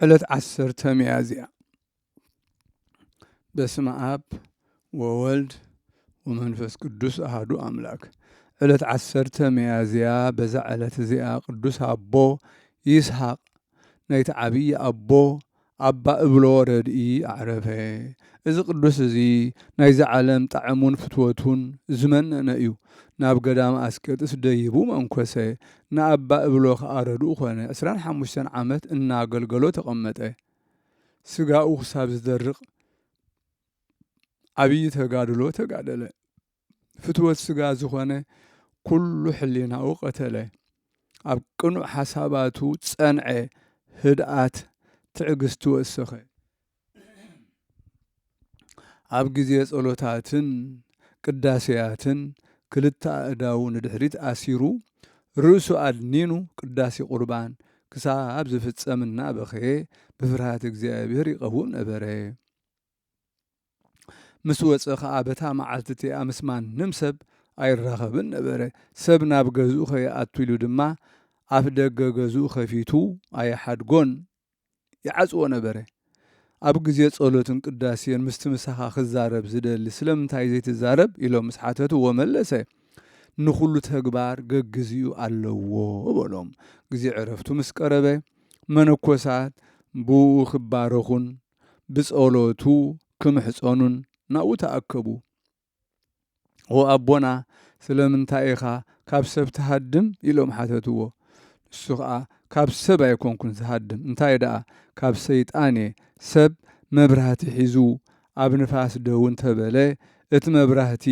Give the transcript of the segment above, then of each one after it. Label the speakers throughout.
Speaker 1: ዕለት ዓሰርተ ሚያዝያ በስመ አብ ወወልድ ወመንፈስ ቅዱስ አህዱ አምላክ። ዕለት ዓሰርተ ሚያዝያ በዛ ዕለት እዚኣ ቅዱስ አቦ ይስሐቅ ናይቲ ዓብዪ አቦ አባ እብሎ ረድኢ አዕረፈ። እዚ ቅዱስ እዚ ናይዚ ዓለም ጣዕሙን ፍትወቱን ዝመነነ እዩ። ናብ ገዳም አስቄጥስ ደይቡ መንኮሰ። ንኣባ እብሎ ከኣ ረድኡ ኮነ። ዕስራን ሓሙሽተን ዓመት እናገልገሎ ተቐመጠ። ስጋኡ ክሳብ ዝደርቕ ዓብዪ ተጋድሎ ተጋደለ። ፍትወት ስጋ ዝኾነ ኩሉ ሕሊናኡ ቀተለ። ኣብ ቅኑዕ ሓሳባቱ ጸንዐ፣ ህድኣት ትዕግስቲ ወሰኸ። ኣብ ግዜ ጸሎታትን ቅዳሴያትን ክልተ ኣእዳዉ ንድሕሪት ኣሲሩ ርእሱ ኣድኒኑ ቅዳሴ ቁርባን ክሳብ ዝፍጸም እናበኸየ ብፍርሃተ እግዚኣብሔር ይቐውም ነበረ። ምስ ወጸ ኸኣ በታ መዓልቲ እቲኣ ምስ ማንም ሰብ ኣይራኸብን ነበረ። ሰብ ናብ ገዝኡ ከይኣቱ ኢሉ ድማ ኣፍ ደገ ገዝኡ ከፊቱ ኣይሓድጎን ይዓጽዎ ነበረ። ኣብ ግዜ ጸሎትን ቅዳሴን ምስቲ ምሳኻ ክዛረብ ዝደሊ ስለምንታይ ዘይትዛረብ? ኢሎም ምስ ሓተትዎ መለሰ፣ ንኹሉ ተግባር ገግዜኡ ኣለዎ በሎም። ግዜ ዕረፍቱ ምስ ቀረበ መነኮሳት ብእኡ ክባረኹን ብጸሎቱ ክምሕጸኑን ናብኡ ተኣከቡ። ኦ ኣቦና ስለምንታይ ኢኻ ካብ ሰብ ትሃድም? ኢሎም ሓተትዎ። ንሱ ኸኣ ካብ ሰብ ኣይኰንኩን ዝሃድም፣ እንታይ ደኣ ካብ ሰይጣን እየ። ሰብ መብራህቲ ሒዙ ኣብ ንፋስ ደው እንተ በለ፣ እቲ መብራህቲ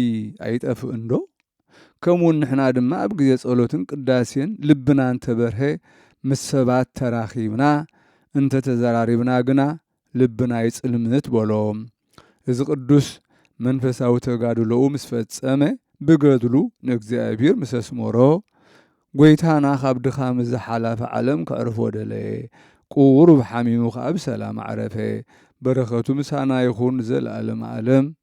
Speaker 1: ኣይጠፍእንዶ? ከምኡውን ንሕና ድማ ኣብ ግዜ ጸሎትን ቅዳሴን ልብና እንተ በርሀ፣ ምስ ሰባት ተራኺብና እንተ ተዘራሪብና ግና ልብና ይጽልምት በሎ። እዚ ቅዱስ መንፈሳዊ ተጋድሎኡ ምስ ፈጸመ ብገድሉ ንእግዚኣብሔር ምስ ኣስመሮ ጐይታና ካብ ድኻም እዛ ሓላፊ ዓለም ከዕርፎ ደለየ። ቁሩብ ሓሚሙ ከኣ ብሰላም ኣዕረፈ። በረኸቱ ምሳና ይኹን ንዘለኣለመ ኣለም።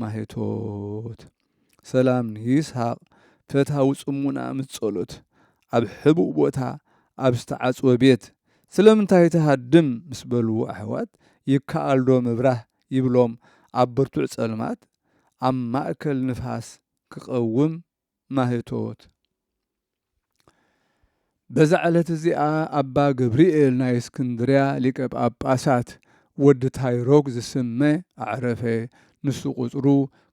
Speaker 1: ማኅቶት ሰላም ንይስሃቅ ፈታዊ ጽሙና ምስ ጸሎት ኣብ ሕቡእ ቦታ ኣብ ዝተዓጽወ ቤት ስለምንታይ ትሃድም ምስ በልዎ ኣሕዋት ይከኣልዶ ምብራህ ይብሎም ኣብ ብርቱዕ ጸልማት ኣብ ማእከል ንፋስ ክቐውም ማህቶት በዛ ዕለት እዚኣ ኣባ ገብርኤል ናይ እስክንድርያ ሊቀ ጳጳሳት ወዲ ታይሮግ ዝስመ ኣዕረፈ። ንሱ ቁጽሩ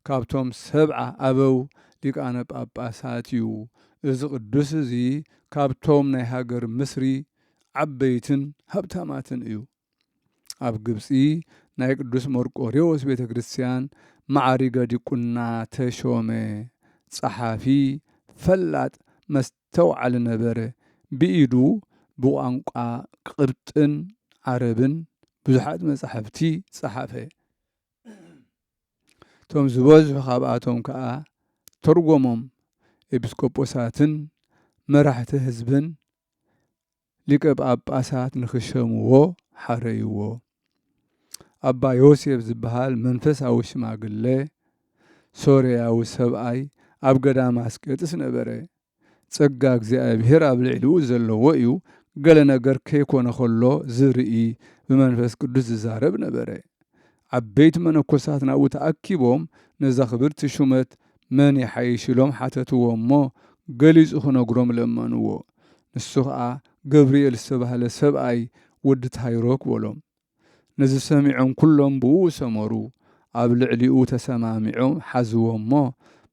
Speaker 1: ካብቶም ሰብዓ ኣበው ሊቃነ ጳጳሳት እዩ። እዚ ቅዱስ እዚ ካብቶም ናይ ሃገር ምስሪ ዓበይትን ሃብታማትን እዩ። ኣብ ግብጺ ናይ ቅዱስ መርቆሬዎስ ቤተ ክርስቲያን መዓሪገ ዲቁና ተሾመ። ጸሓፊ፣ ፈላጥ፣ መስተውዓሊ ነበረ። ብኢዱ ብቋንቋ ቅብጥን ዓረብን ብዙሓት መጻሕፍቲ ጸሓፈ። እቶም ዝበዝሑ ካብኣቶም ከኣ ተርጎሞም ኤጲስቆጶሳትን መራሕቲ ህዝብን ሊቀ ጳጳሳት ንኽሸምዎ ሓረይዎ። ኣባ ዮሴፍ ዝበሃል መንፈሳዊ ሽማግለ ሶርያዊ ሰብኣይ ኣብ ገዳም ኣስቄጥስ ነበረ። ጸጋ እግዚኣብሔር ኣብ ልዕሊኡ ዘለዎ እዩ፣ ገለ ነገር ከይኮነ ኸሎ ዝርኢ ብመንፈስ ቅዱስ ዝዛረብ ነበረ። ዓበይቲ መነኮሳት ናብኡ ተኣኪቦም ነዛ ክብርቲ ሹመት መን ይሓይሽ ኢሎም ሓተትዎ እሞ ገሊጹ ክነግሮም ለመንዎ ንሱ ከኣ ገብርኤል ዝተባህለ ሰብኣይ ወዲ ታይሮክ በሎም ነዚ ሰሚዖም ኩሎም ብእኡ ሰመሩ ኣብ ልዕሊኡ ተሰማሚዖም ሓዝዎ እሞ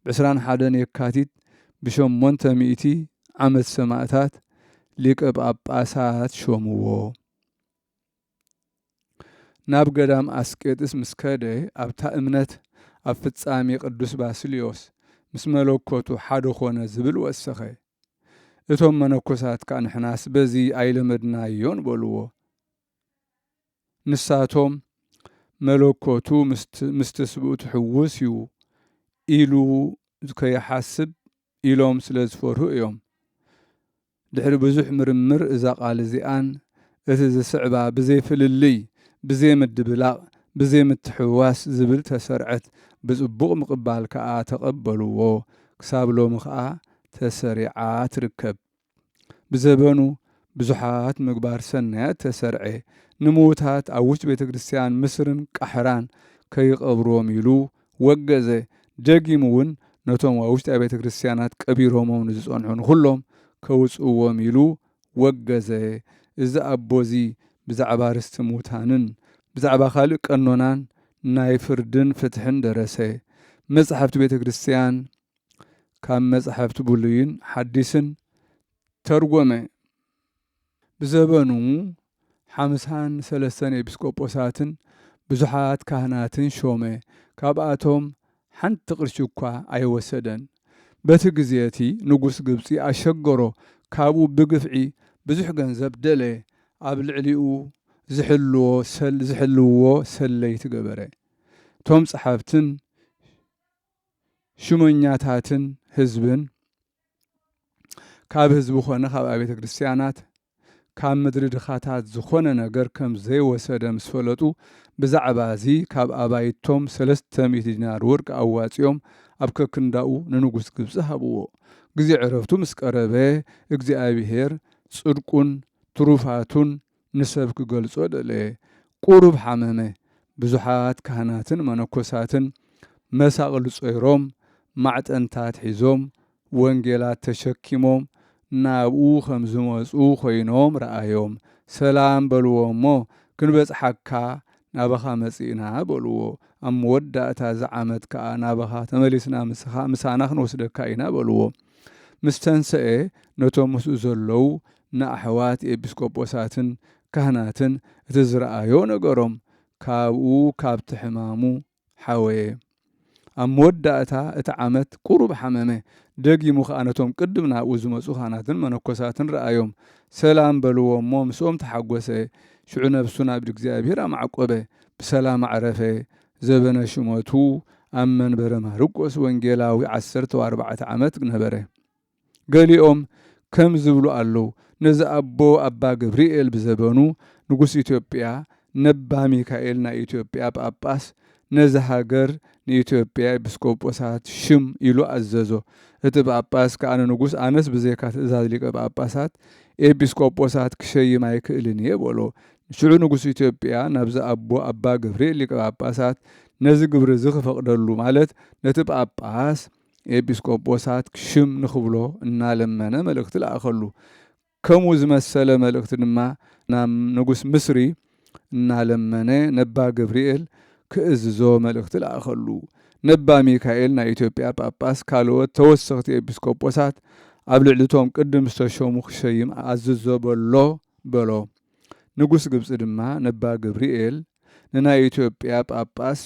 Speaker 1: ብ ዕስራን ሓደን የካቲት ብ ሸሞንተ ሚእቲ ዓመት ሰማእታት ሊቀ ጳጳሳት ሾምዎ። ናብ ገዳም ኣስቄጥስ ምስ ከደ ኣብታ እምነት ኣብ ፍጻሜ ቅዱስ ባስልዮስ ምስ መለኮቱ ሓደ ዀነ ዝብል ወሰኸ። እቶም መነኮሳት ከኣ ንሕናስ በዚ ኣይለመድናዮን በልዎ። ንሳቶም መለኮቱ ምስ ትስብእቱ ሕዉስ እዩ ኢሉ ከይሓስብ ኢሎም ስለ ዝፈርሁ እዮም። ድሕሪ ብዙሕ ምርምር እዛ ቃል እዚኣን እቲ ዝስዕባ ብዘይ ፍልልይ፣ ብዘይ ምድብላቕ፣ ብዘይ ምትሕውዋስ ዝብል ተሰርዐት። ብጽቡቕ ምቕባል ከኣ ተቐበልዎ። ክሳብ ሎሚ ከኣ ተሰሪዓ ትርከብ። ብዘበኑ ብዙሓት ምግባር ሰናያት ተሰርዔ። ንምዉታት ኣብ ዉሽጢ ቤተ ክርስትያን ምስርን ቃሕራን ከይቐብርዎም ኢሉ ወገዘ ደጊሙ እውን ነቶም ኣብ ውሽጢ ኣብያተ ክርስቲያናት ቀቢሮሞም ንዝጸንሑ ንኹሎም ከውጽእዎም ኢሉ ወገዘ። እዚ ኣቦ እዚ ብዛዕባ ርስቲ ሙታንን ብዛዕባ ካልእ ቀኖናን ናይ ፍርድን ፍትሕን ደረሰ። መጻሕፍቲ ቤተ ክርስቲያን ካብ መጻሕፍቲ ብሉይን ሓዲስን ተርጐመ። ብዘበኑ ሓምሳን ሰለስተን ኤጲስቆጶሳትን ብዙሓት ካህናትን ሾመ፣ ካብኣቶም ሓንቲ ቅርሺ እኳ ኣይወሰደን። በቲ ግዜ እቲ ንጉስ ግብጺ ኣሸገሮ፣ ካብኡ ብግፍዒ ብዙሕ ገንዘብ ደለየ፣ ኣብ ልዕሊኡ ዚሕልውዎ ሰለይቲ ገበረ፣ እቶም ጸሓፍትን ሹመኛታትን ህዝብን፣ ካብ ህዝቢ ኮነ ካብ ኣብያተ ክርስትያናት ካብ ምድሪ ድኻታት ዝኾነ ነገር ከም ዘይወሰደ ምስ ፈለጡ ብዛዕባ እዚ ካብ ኣባይቶም ሰለስተ ሚእቲ ዲናር ወርቂ ኣዋጺኦም ኣብ ከክንዳኡ ንንጉስ ግብጺ ሃብዎ። ግዜ ዕረፍቱ ምስ ቀረበ እግዚኣብሄር ጽድቁን ትሩፋቱን ንሰብ ክገልጾ ደለየ። ቁሩብ ሓመመ። ብዙሓት ካህናትን መነኮሳትን መሳቕል ጾይሮም፣ ማዕጠንታት ሒዞም፣ ወንጌላት ተሸኪሞም ናብኡ ከም ዝመጹ ኮይኖም ረኣዮም። ሰላም በልዎ'ሞ ክንበጽሓካ ናባኻ መጺእና በልዎ። ኣብ መወዳእታ እዚ ዓመት ከኣ ናባኻ ተመሊስና ምሳኻ ምሳና ክንወስደካ ኢና በልዎ። ምስ ተንሰኤ ነቶም ምስኡ ዘለዉ ንኣሕዋት ኤጲስቆጶሳትን ካህናትን እቲ ዝረኣዮ ነገሮም፣ ካብኡ ካብቲ ሕማሙ ሓወየ። ኣብ መወዳእታ እቲ ዓመት ቁሩብ ሓመመ፣ ደጊሙ ከኣ ነቶም ቅድም ናብኡ ዝመጹ ካህናትን መነኮሳትን ረኣዮም፣ ሰላም በልዎ እሞ ምስኦም ተሓጎሰ፣ ሽዑ ነብሱ ናብ ኢድ እግዚኣብሔር ኣማዕቆበ፣ ብሰላም ኣዕረፈ፣ ዘበነ ሹመቱ ኣብ መንበረ ማርቆስ ወንጌላዊ ዓሰርተው ኣርባዕተ ዓመት ነበረ። ገሊኦም ከም ዝብሉ ኣለዉ ነዚ ኣቦ ኣባ ገብሪኤል ብዘበኑ ንጉስ ኢትዮጵያ ነባ ሚካኤል ናይ ኢትዮጵያ ጳጳስ ነዚ ሃገር ንኢትዮጵያ ኤጲስቆጶሳት ሽም ኢሉ ኣዘዞ እቲ ጳጳስ ከኣ ንንጉስ ኣነስ ብዘይካ ትእዛዝ ሊቀ ጳጳሳት ኤጲስቆጶሳት ክሸይም ኣይክእልን እየ በሎ ሽዑ ንጉስ ኢትዮጵያ ናብዚ ኣቦ ኣባ ገብሪኤል ሊቀ ጳጳሳት ነዚ ግብሪ እዚ ክፈቅደሉ ማለት ነቲ ጳጳስ ኤጲስቆጶሳት ሽም ንኽብሎ እናለመነ መልእኽቲ ለኣኸሉ። ከምኡ ዝመሰለ መልእኽቲ ድማ ናብ ንጉሥ ምስሪ እናለመነ ነባ ገብርኤል ክእዝዞ መልእኽቲ ለኣኸሉ። ነባ ሚካኤል ናይ ኢትዮጵያ ጳጳስ ካልኦት ተወሰኽቲ ኤጲስቆጶሳት ኣብ ልዕሊ እቶም ቅድም ዝተሾሙ ክሸይም ኣዝዞ በሎ በሎ። ንጉሥ ግብጺ ድማ ነባ ገብርኤል ንናይ ኢትዮጵያ ጳጳስ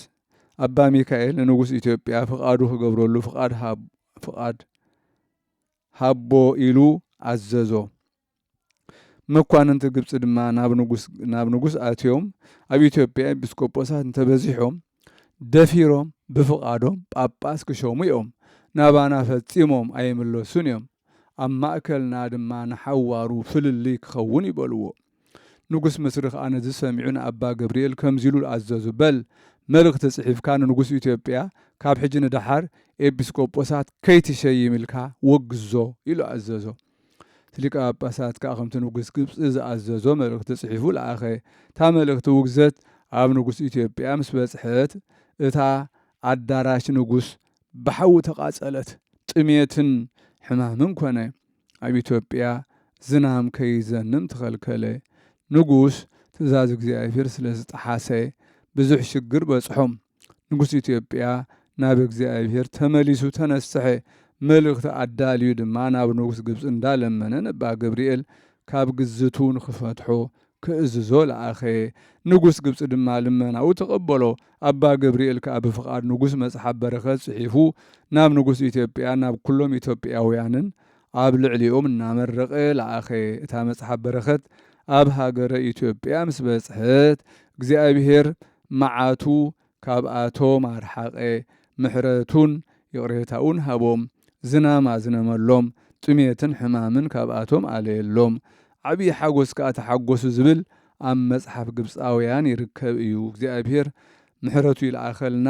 Speaker 1: ኣባ ሚካኤል ንንጉስ ኢትዮጵያ ፍቓዱ ክገብረሉ ፍቓድ ሃቦ ኢሉ ኣዘዞ። መኳንንቲ ግብፂ ድማ ናብ ንጉስ ኣትዮም ኣብ ኢትዮጵያ ኤጲስቆጶሳት እንተበዚሖም ደፊሮም ብፍቓዶም ጳጳስ ክሾሙ እዮም፣ ናባና ፈፂሞም ኣይምለሱን እዮም። ኣብ ማእከልና ድማ ንሓዋሩ ፍልልይ ክኸውን እዩ በልዎ። ንጉስ ምስሪ ከኣ ነዚ ሰሚዑ ንኣባ ገብርኤል ከምዚ ኢሉ ኣዘዞ፣ በል መልእኽቲ ጽሒፍካ ንንጉስ ኢትዮጵያ ካብ ሕጂ ንደሓር ኤጲስቆጶሳት ከይትሸይም ኢልካ ወግዞ ኢሉ ኣዘዞ። እቲ ሊቀ ጳጳሳት ከኣ ከምቲ ንጉስ ግብጺ ዝኣዘዞ መልእኽቲ ጽሒፉ ለኣኸ። እታ መልእኽቲ ውግዘት ኣብ ንጉስ ኢትዮጵያ ምስ በጽሐት እታ ኣዳራሽ ንጉስ ብሓዊ ተቓጸለት። ጥሜትን ሕማምን ኮነ። ኣብ ኢትዮጵያ ዝናም ከይዘንም ተኸልከለ። ንጉስ ትእዛዝ እግዚኣብሔር ስለ ዝጠሓሰ ብዙሕ ሽግር በጽሖም። ንጉስ ኢትዮጵያ ናብ እግዚኣብሔር ተመሊሱ ተነስሐ። መልእኽቲ ኣዳልዩ ድማ ናብ ንጉስ ግብጺ እንዳ ለመነ ነባ ገብርኤል ካብ ግዝቱ ንክፈትሖ ክእዝዞ ለኣኸ። ንጉስ ግብጺ ድማ ልመናኡ ተቐበሎ። ኣባ ገብርኤል ከኣ ብፍቓድ ንጉስ መጽሓፍ በረከት ጽሒፉ ናብ ንጉስ ኢትዮጵያን ናብ ኩሎም ኢትዮጵያውያንን ኣብ ልዕሊኦም እናመረቐ ለኣኸ። እታ መጽሓፍ በረከት ኣብ ሃገረ ኢትዮጵያ ምስ በጽሐት እግዚኣብሔር መዓቱ ካብኣቶም ኣርሓቐ፣ ምሕረቱን ይቕሬታኡን ሃቦም፣ ዝናም ኣዝነመሎም፣ ጥሜትን ሕማምን ካብኣቶም ኣለየሎም፣ ዓብዪ ሓጐስ ከኣ ተሓጐሱ ዝብል ኣብ መጽሓፍ ግብጻውያን ይርከብ እዩ። እግዚኣብሄር ምሕረቱ ይልኣኸልና።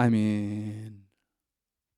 Speaker 1: ኣሜን።